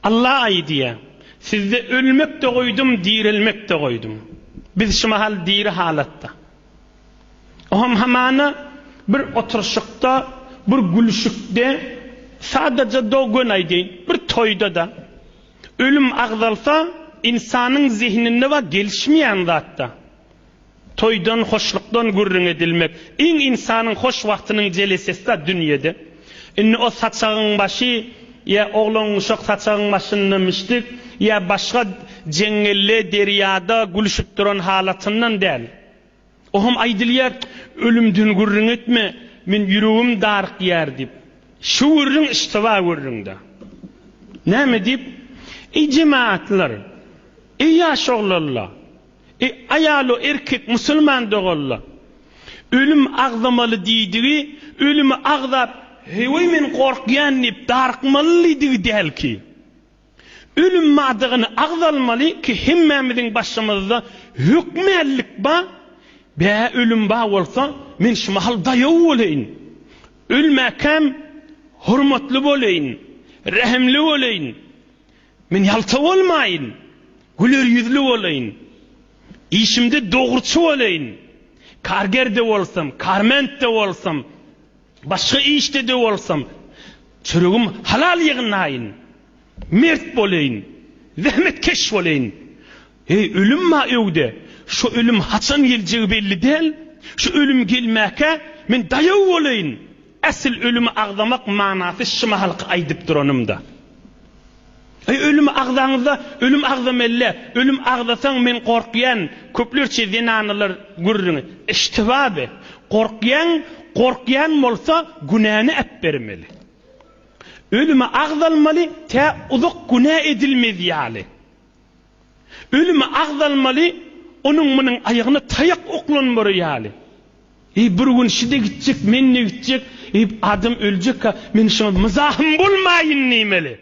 Alla aýdýar, Sizde ölmek-de goýdum, direlmek-de goýdum. Biz şu mahal diri halatda. O hem hamana bir oturyşykda, bir gülüşikde, sadaja-da göni aýdaýyn, bir toýda-da. Ölüm agzalsa, ynsanyň zehninde we gelişmeýän zat-da. Toýdan, hoşlukdan gürrüň edilmek. Iň ynsanyň hoş wagtynyň jelesesi-da dünýede. Indi o saçagyň başy ýa oglangyşak saçagyň başynda mişdik ýa başga jeňňelle derýada gülüşip duran halatyndan däl. O hem aýdylýar, Ölümden gürrüň etme, men ýüregim darykýar diýip. Şu gürrüň iştiba gürrüň-dä. Näme diýip? Eý jemagatlar! Eý ýaş oglanlar! E, aýalo erkek musulman doganlar. Ölüm agzamaly diýdigi, ölümi agzap, heý-weý men gorkýan diýip darykmaly diýdigi däl ki. Ölüm madygyny agzalmaly ki hemmämiziň başymyzda hökmänlik ba, bä ölüm ba bolsa men şu mahal daýaw boleýin. Ölmäkäm hormatly boleýin, rähimli boleýin. Men ýalta bolmaýyn, güler ýüzli bolaýyn. Işimde dogruçy bolaýyn. Karger-de bolsam, karment-de bolsam, başga işde-de bolsam, çöregim halal ýygnaýyn. Mert bolaýyn, zähmetkeş bolaýyn. Heý, ölüm bar öýde. Şo ölüm haçan geljegi belli däl. Şo ölüm gelmäkä, men daýaw bolaýyn. Äsl ölümi agzamak manasy şi mahalky aýdyp duranym-da. Heý, ölümi agzaňyz-da, ölüm agzameli-le. Ölüm agzasaň, men gorkýan, köplerçe zenanalar gürrüňi. Eşitib-ä bi. Gorkýaň, gorkýan bolsa, günäni äpbermeli. Ölümi agzalmaly, tä uzak günä edilmez ýaly. Ölümi agzalmaly, onuň-munuň aýagyna taýak oklanmary ýaly. Eý, bir gün şi-de gitjek, men-de gitjek, eý, adam öljek-ä, men şuňa myzahym bolmaýyn diýmeli.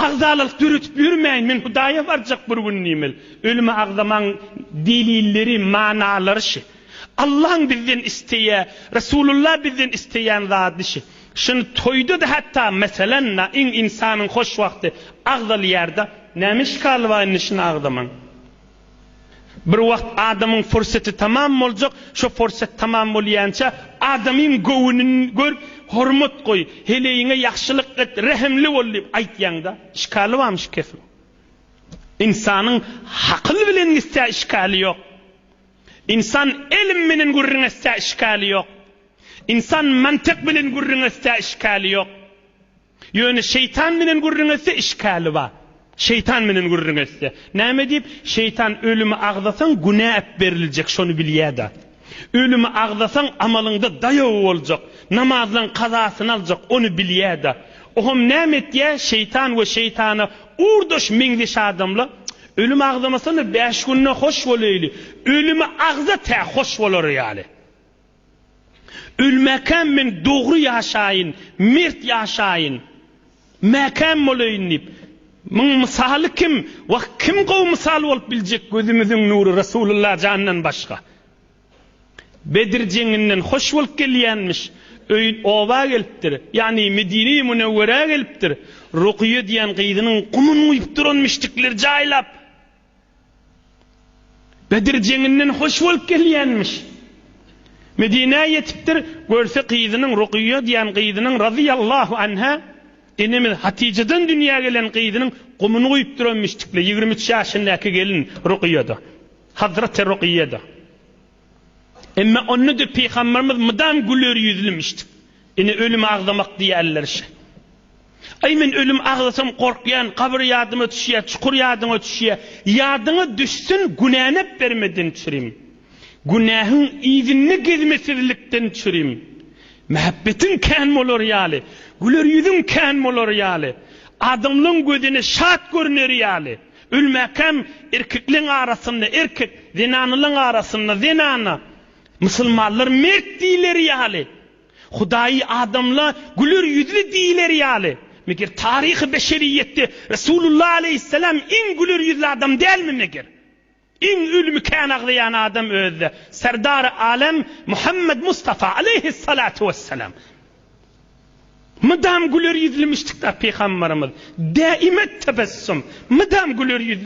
Agzalalyk döredip ýörmäýin, men Hudaýa barjak bir gün diýmeli. Ölümi agzamagyň delilleri, manalary şi. Allaň bizden isleýä, Resulullah bizden isleýän zady şi. Şuny toýda-da hatda meselem da iň insanyň hoş wagty agzalýar-da. Näme işgal bar indi şuny agzamaň? Bir wagt adamyň furseti tamam boljak, şo fursat tamam bolýança adamyň göwnüni gör, hormat goý, heleýiňe ýagşylyk et, rehimli bol diýip aýtýaň-da. Işgali barmy şu kesim? Insanyň hakyl bilen gitse işgali ýok. Insan elm bilen gürrüň etse işgali ýok. Ynsan mantyk bilen gürrüňeşse işgäli ýok. Ýöne şeýtan bilen gürrüňeşse işgäli bar. Şeýtan bilen gürrüňeşse. Näme diýip? Şeýtan ölümi agzasaň günä äpberiljek şony bilýäda. Ölümi agzasaň amalyňda daýaw boljak. Namazlaň kazasyny aljak ony bilýäda. Ohm näme etýä? Şeýtan we şeýtana urdaş meňzeş adamla Ölümi agzamasana bäş günde hoş bolaýly. Ölümi agza tä hoş bolary ýaly. Ölmäkäm men dogry ýaşaýyn, mert ýaşaýyn, mäkäm bolaýyn diýip, muň mysaly kim, wah, kim gowy mysal bolup biljek gözümiziň nury Resulullah jandan başga? Bedir jeňinden hoş bolup gelýänmiş, öýün oba gelipdir, ýagny Medine-i Münewwerä gelipdir, Rukyýa diýen gyzynyň gumuny guýupdyr, ony müşrikler jaýlap. Bedir jeňinden hoş bolup gelýänmiş. Medinä ýetipdir, görse gyzynyň Rukyýa diýen gyzynyň razyýallahu anha enemiz Hatyjadan dünýä gelen gyzynyň gumuny guýup duranmyş tikle ýigrimi üç ýaşyndaky gelin Rukyýa-da. Hazraty Rukyýa-da. Emma onda-da pygamberimiz mydam güler ýüzlümişdi. Ine ölümi agzamak diýýärler şä. Aý men ölümi agzasam gorkýan, gabyr ýadyma düşýä, çukur ýadyňa düşýä. Ýadyňa düşsün günänäp bermeden çürim. Günähiň yzynda gezmesizlikden çürim. Mähbetiň kän bolar ýaly, güler ýüzüň kän bolar ýaly, adamlaň gözüne şat görüneri ýaly. Ölmäkäm erkekleň arasynda erkek, zenanalaň arasynda zenana. Musulmanlar mert diýileri ýaly, Hudaýy adamla güler ýüzli diýileri ýaly, meger taryhy beşeriýetde Resulullah aleýhisselam iň güler ýüzli adam dälmi meger? Iň ölümi kän aglaýan adam özde Serdary Alem Muhammed Mustafa aleýhis-salatu wes-selam. Mydam güler ýüzli müşdikdar Pygamberimiz, däimet tebessüm, mydam güler ýüzli.